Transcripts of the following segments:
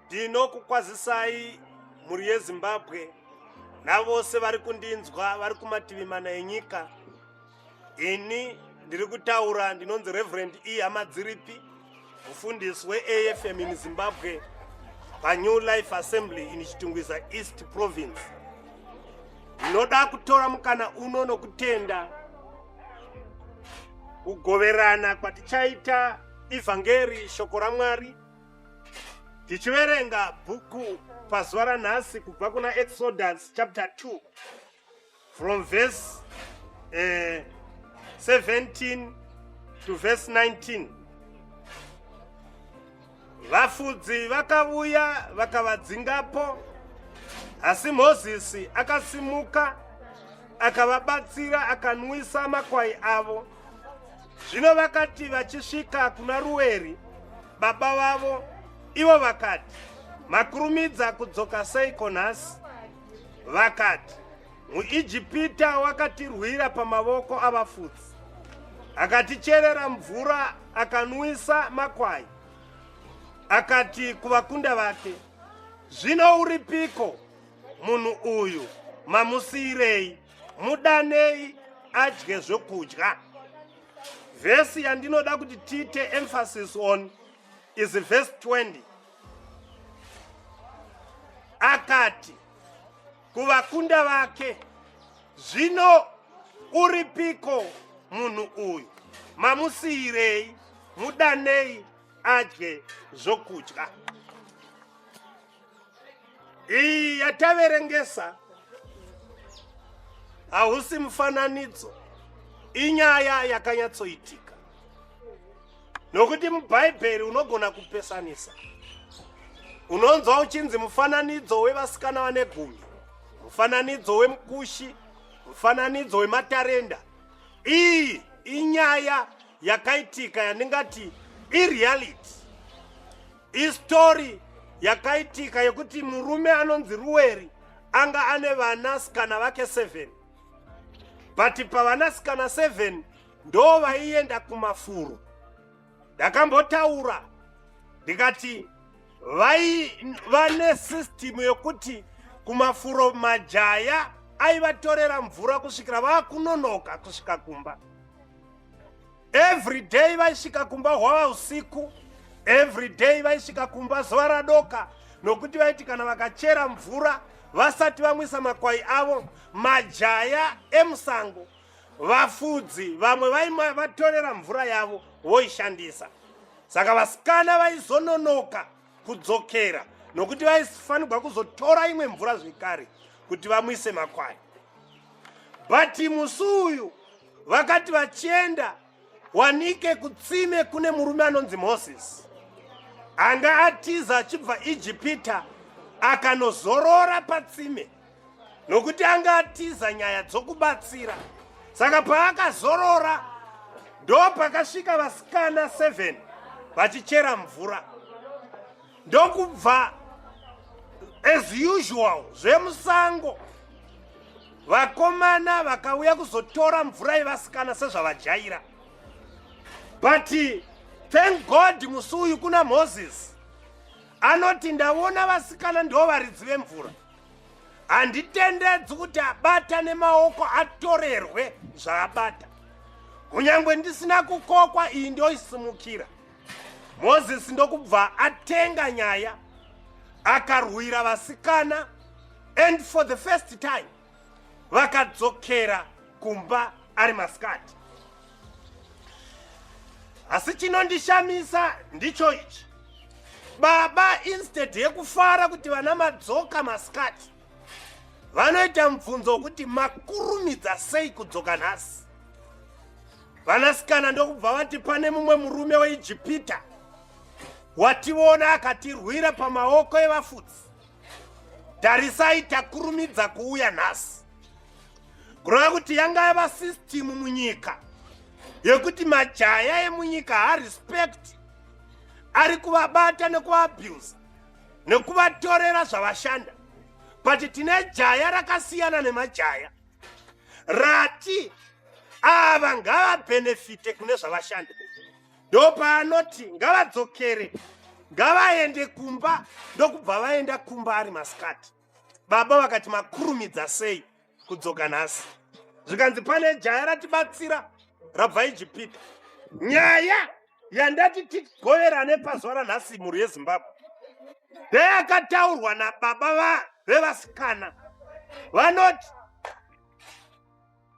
ndinokukwazisai mhuri yezimbabwe navose vari kundinzwa vari kumativi mana enyika ini ndiri kutaura ndinonzi reverend e hamadziripi mufundisi weafm in zimbabwe panew life assembly in chitungwiza east province ndinoda kutora mukana uno nokutenda kugoverana kwatichaita evhangeri shoko ramwari tichiverenga bhuku pazuva ranhasi kubva kuna exodus chapter 2 from verse uh, 17 to verse 19 vafudzi vakavuya vakavadzingapo asi mozisi akasimuka akavabatsira akanwisa makwai avo zvino vakati vachisvika kuna ruweri baba vavo ivo vakati makurumidza kudzoka seiko nhasi vakati muijipita wakatirwira pamavoko avafudzi akaticherera mvura akanwisa makwai akati kuvakunda vake zvino uripiko munhu uyu mamusiyirei mudanei adye zvokudya vhesi yandinoda kuti tiite emphasis on is vhesi 20 akati kuvakunda vake zvino uripiko munhu uyu mamusiyirei mudanei adye zvokudya iyi yataverengesa hausi mufananidzo inyaya yakanyatsoitika nokuti mubhaibheri unogona kupesanisa unonzwa uchinzi mufananidzo wevasikana vane gumi mufananidzo wemukushi mufananidzo wematarenda iyi inyaya yakaitika yandingati ireality Istori yakaitika yekuti murume anonzi Ruweri anga ane vanasikana vake 7 but pavanasikana 7 ndo vaienda kumafuro. Ndakambotaura ndikati vai vane system yokuti kumafuro majaya aivatorera mvura kusvikira vakunonoka kusvika kumba. every day vaisvika kumba hwava usiku every day vaisvika kumba zuva radoka nokuti vaiti kana vakachera mvura vasati vamwisa makwai avo majaya emusango vafudzi vamwe vaivatorera mvura yavo voishandisa saka vasikana vaizononoka kudzokera nokuti vaifanirwa kuzotora imwe mvura zvekare kuti vamwise makwai but musi uyu vakati vachienda wanike kutsime kune murume anonzi moses anga atiza achibva ijipita akanozorora patsime nokuti anga atiza nyaya dzokubatsira saka paakazorora ndo pakasvika vasikana 7 vachichera mvura ndokubva as usual zvemusango vakomana vakauya kuzotora mvura yevasikana sezvavajaira but thank god musi uyu kuna moses anoti ndaona vasikana ndo varidzi vemvura handitendedzi kuti abata nemaoko atorerwe zvaabata kunyange ndisina kukokwa iyi ndoisimukira mozisi ndokubva atenga nyaya akarwira vasikana and for the first time vakadzokera kumba ari masikati asi chinondishamisa ndicho ichi baba instead yekufara kuti vana madzoka masikati vanoita mubvunzo wokuti makurumidza sei kudzoka nhasi vanasikana ndokubva vati pane mumwe murume weijipita wationa akatirwira pamaoko evafudzi tarisai takurumidza kuuya nhasi kureva kuti yanga yava system munyika yekuti majaya emunyika harespect ari kuvabata nekuvaabuse nekuvatorera zvavashanda but tine jaya rakasiyana nemajaya rati ava ngavabhenefite kune zvavashanda ndopaanoti ngavadzokere ngavaende kumba ndokubva vaenda kumba ari masikati baba vakati makurumidza sei kudzoka nhasi zvikanzi pane jaya ratibatsira rabva ijipita nyaya yandati tigoverane pazuva ranhasi mhuri yezimbabwe ndeyakataurwa nababa vevasikana vanoti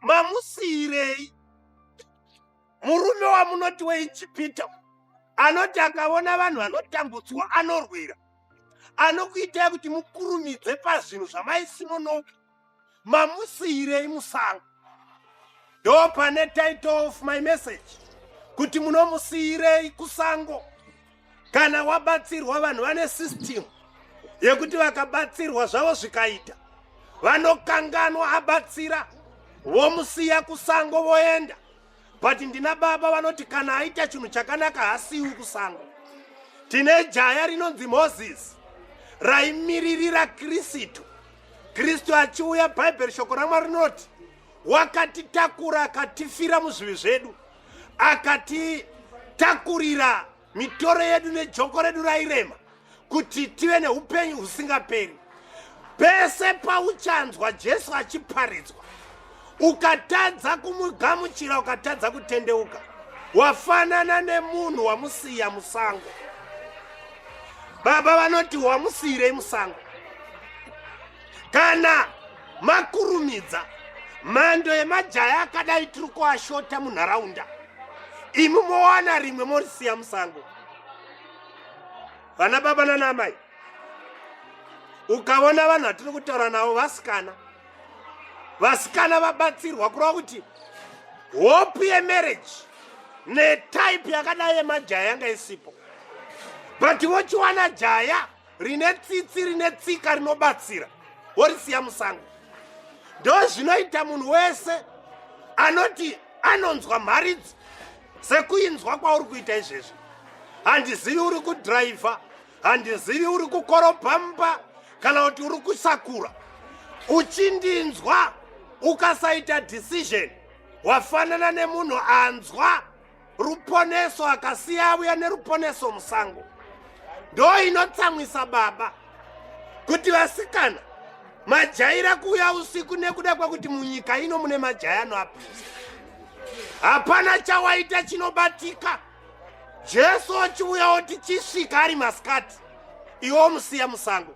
mamusiyirei murume wamunoti weijipita anoti akaona vanhu vanotambudzwa anorwira anokuitai kuti mukurumidze pazvinhu zvamaisimono mamusiirei musango ndo pane title of my message kuti munomusiirei kusango kana wabatsirwa vanhu vane system yekuti vakabatsirwa zvavo zvikaita vanokanganwa abatsira vomusiya kusango voenda but ndina baba vanoti kana aita chinhu chakanaka hasiwi kusango tine jaya rinonzi moses raimiririra kristu kristu achiuya bhaibheri shoko ramwari rinoti wakatitakura akatifira muzvivi zvedu akatitakurira mitoro yedu nejoko redu rairema kuti tive neupenyu husingaperi pese pauchanzwa jesu achiparidzwa ukatadza kumugamuchira ukatadza kutendeuka wafanana nemunhu wamusiya musango baba vanoti wamusiyirei musango kana makurumidza mhando yemajaya akadai tiri kuashota munharaunda imi mowana rimwe morisiya musango vana baba nanamai ukaona vanhu vatiri kutaura navo vasikana vasikana vabatsirwa kureva kuti hope yemarriage netype yakadai yemajaya yanga isipo but vochiwana jaya rine tsitsi rine tsika rinobatsira worisiya musango ndo zvinoita munhu wese anoti anonzwa mharidzi sekuinzwa kwauri kuita izvezvi handizivi uri kudhiraivha handizivi uri kukorobha mumba kana kuti uri kusakura uchindinzwa ukasaita decision wafanana nemunhu anzwa ruponeso akasiya avuya neruponeso musango ndo inotsamwisa baba kuti vasikana majaira kuuya usiku nekuda kwekuti munyika ino mune majaya anoapisa hapana chawaita chinobatika jesu ochiuya oti chisvika ari masikati iwo musiya musango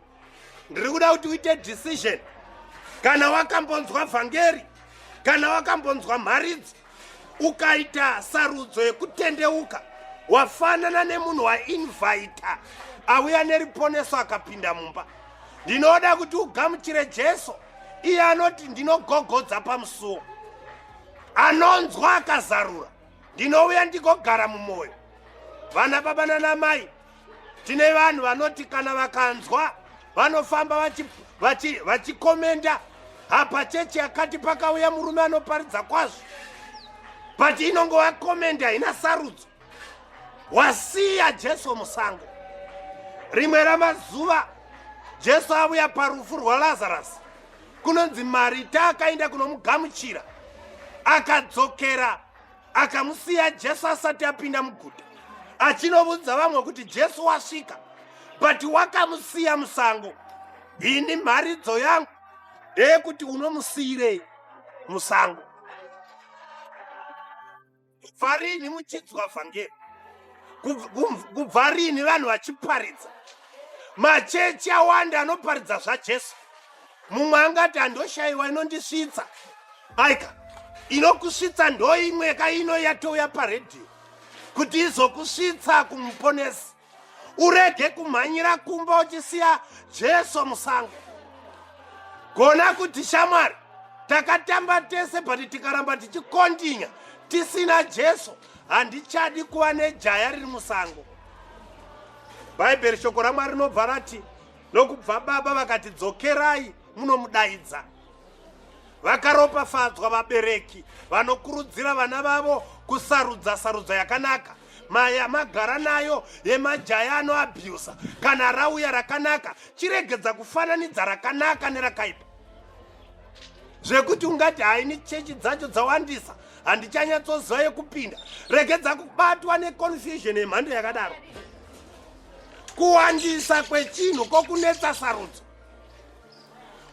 ndiri kuda kuti uite decision kana wakambonzwa vhangeri kana wakambonzwa mharidzi ukaita sarudzo yekutendeuka wafanana nemunhu wainvaita auya neriponeso akapinda mumba ndinoda kuti ugamuchire jesu iye anoti ndinogogodza pamusuwo anonzwa akazarura ndinouya ndigogara mumwoyo vana baba nanamai tine vanhu vanoti kana vakanzwa vanofamba vachikomenda apa chechi yakati pakauya murume anoparidza kwazvo but inongova komendi haina sarudzo wasiya jesu musango rimwe ramazuva jesu avuya parufu rwalazarasi kunonzi marita akaenda kunomugamuchira akadzokera akamusiya jesu asati apinda muguta achinovudza vamwe kuti jesu wasvika but wakamusiya musango ini mharidzo yangu ndeyekuti unomusiyirei musango kubva rini muchidzwa vhangeri kubva rini vanhu vachiparidza machechi awanda anoparidza zvajesu mumwe angati handoshayiwa inondisvitsa aika inokusvitsa ndoimwe ka ino yatouya paredhiyo kuti izokusvitsa kumuponesi urege kumhanyira kumba uchisiya jesu musango gona kuti shamwari takatamba tese but tikaramba tichikondinya tisina jesu handichadi kuva nejaya riri musango bhaibheri shoko ramwari rinobva rati Nokubva baba vakati dzokerai munomudaidza. Vakaropafadzwa vabereki vanokurudzira vana vavo kusarudza sarudza yakanaka mai amagara nayo yemajaya anoabhusa kana rauya rakanaka chiregedza kufananidza rakanaka nerakaipa zvekuti ungati haini chechi dzacho dzawandisa handichanyatsoziva yekupinda regedza kubatwa neconfusion yemhando yakadaro kuwandisa kwechinhu kokunetsa sarudzo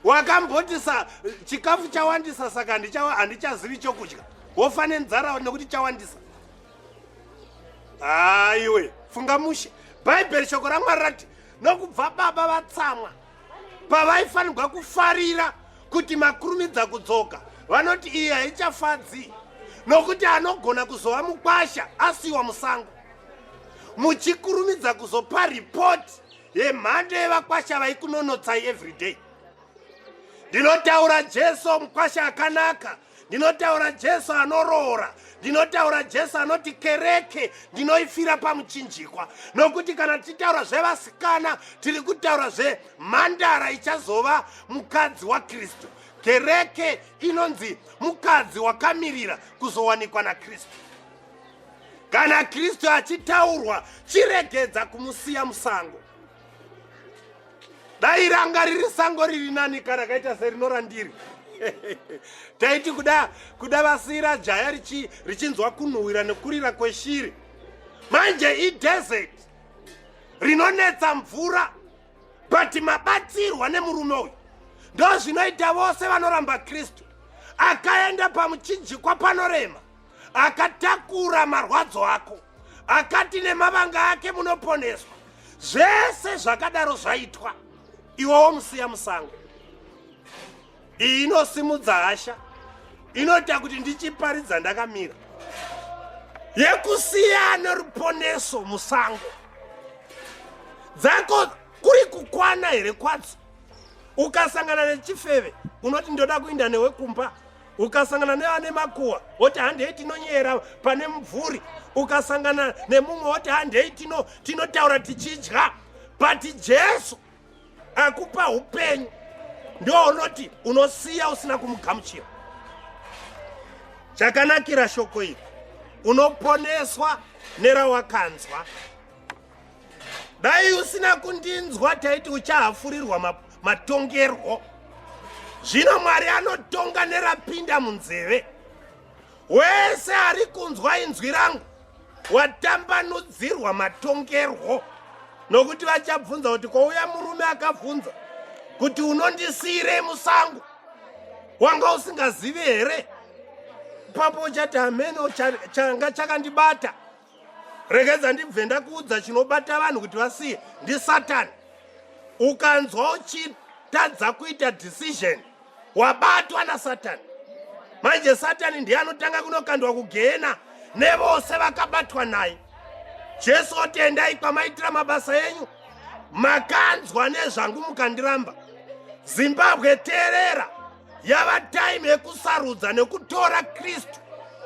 wakamboti sa chikafu chawandisa saka handichazivi chokudya wofa nenzara nekuti chawandisa haiwe funga mushe bhaibheri shoko ramwari rati nokubva baba vatsamwa pavaifanirwa kufarira kuti makurumidza kudzoka vanoti iyi haichafadzi nokuti anogona kuzova mukwasha asiwa musango muchikurumidza kuzopa ripoti yemhando yevakwasha vaikunonotsai everyday ndinotaura jesu mukwasha akanaka ndinotaura jesu anoroora ndinotaura jesu anoti kereke ndinoifira pamuchinjikwa nokuti kana tichitaura zvevasikana tiri kutaura zvemhandara ichazova mukadzi wakristu kereke inonzi mukadzi wakamirira kuzowanikwa nakristu kana kristu achitaurwa chiregedza kumusiya musango dai ranga riri sango riri nani kana kaita serinorandiri taiti kuda kuda vasiira jaya richinzwa kunhuhwira nekurira kweshiri manje idesert rinonetsa mvura but mabatsirwa nemurume uyu ndozvinoita vose vanoramba kristu akaenda pamuchinjikwa panorema akatakura marwadzo ako akati nemavanga ake munoponeswa zvese zvakadaro zvaitwa iwowo musiya musango iyi inosimudza hasha inoita kuti ndichiparidza ndakamira yekusiya neruponeso musango dzako kuri kukwana here kwadzo ukasangana nechifeve unoti ndoda kuinda newe kumba ukasangana neane makuwa oti handei tinonyera pane mubvuri ukasangana nemumwe oti handei tino tinotaura tichidya but jesu akupa upenyu ndounoti unosiya usina kumugamuchira chakanakira shoko iri unoponeswa nerawakanzwa dai usina kundinzwa taiti uchahafurirwa ma, matongerwo zvino mwari anotonga nerapinda munzeve wese ari kunzwa inzwi rangu watambanudzirwa matongerwo nokuti vachabvunza kuti kwouya murume akabvunza kuti unondisiyirei musango wanga usingazivi here ipapo uchati hameno changa chakandibata regedza ndibve ndakuudza chinobata vanhu kuti vasiye ndisatani ukanzwa uchitadza kuita decision wabatwa nasatani manje satani ndiye anotanga kunokandwa kugehena nevose vakabatwa naye jesu otendai kwamaitira mabasa enyu makanzwa nezvangu mukandiramba zimbabwe teerera yava time yekusarudza nekutora kristu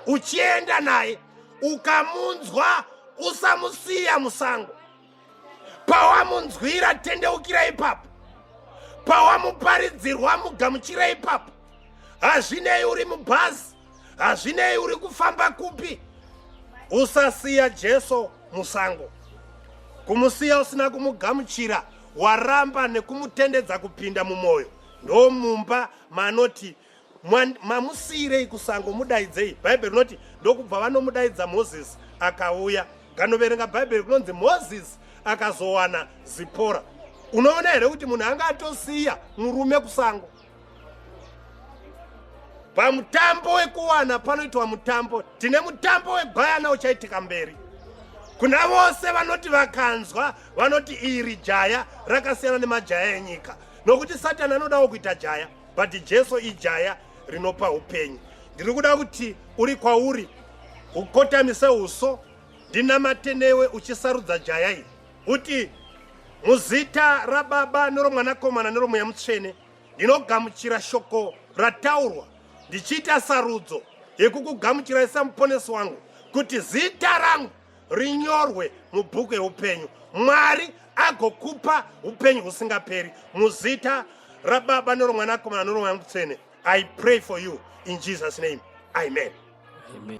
uchienda naye ukamunzwa usamusiya musango pawamunzwira tendeukira ipapo pawamuparidzirwa mugamuchira ipapo hazvinei uri mubhazi hazvinei uri kufamba kupi usasiya jesu musango kumusiya usina kumugamuchira waramba nekumutendedza kupinda mumwoyo ndomumba manoti mamusiirei kusango mudaidzei bhaibheri rinoti ndokubva vanomudaidza mozisi akauya ganoverenga bhaibheri kunonzi mozisi akazowana zipora unoona here kuti munhu anga atosiya murume kusango pamutambo wekuwana panoitwa mutambo tine mutambo wegwayana uchaitika mberi kuna vose vanoti vakanzwa vanoti iri jaya rakasiyana nemajaya enyika nokuti satani anodawo kuita jaya but jesu ijaya rinopa upenyu ndiri kuda kuti uri kwauri ukotamise uso ndinamate newe uchisarudza jaya iri uti muzita rababa neromwanakomana neromweya mutsvene ndinogamuchira shoko rataurwa ndichiita sarudzo yekukugamuchirai samuponesi wangu kuti zita rangu rinyorwe mubhuku yeupenyu mwari agokupa upenyu husingaperi muzita rababa noromwanakomana noromwana mutsvene i pray for you in jesus name amen, amen.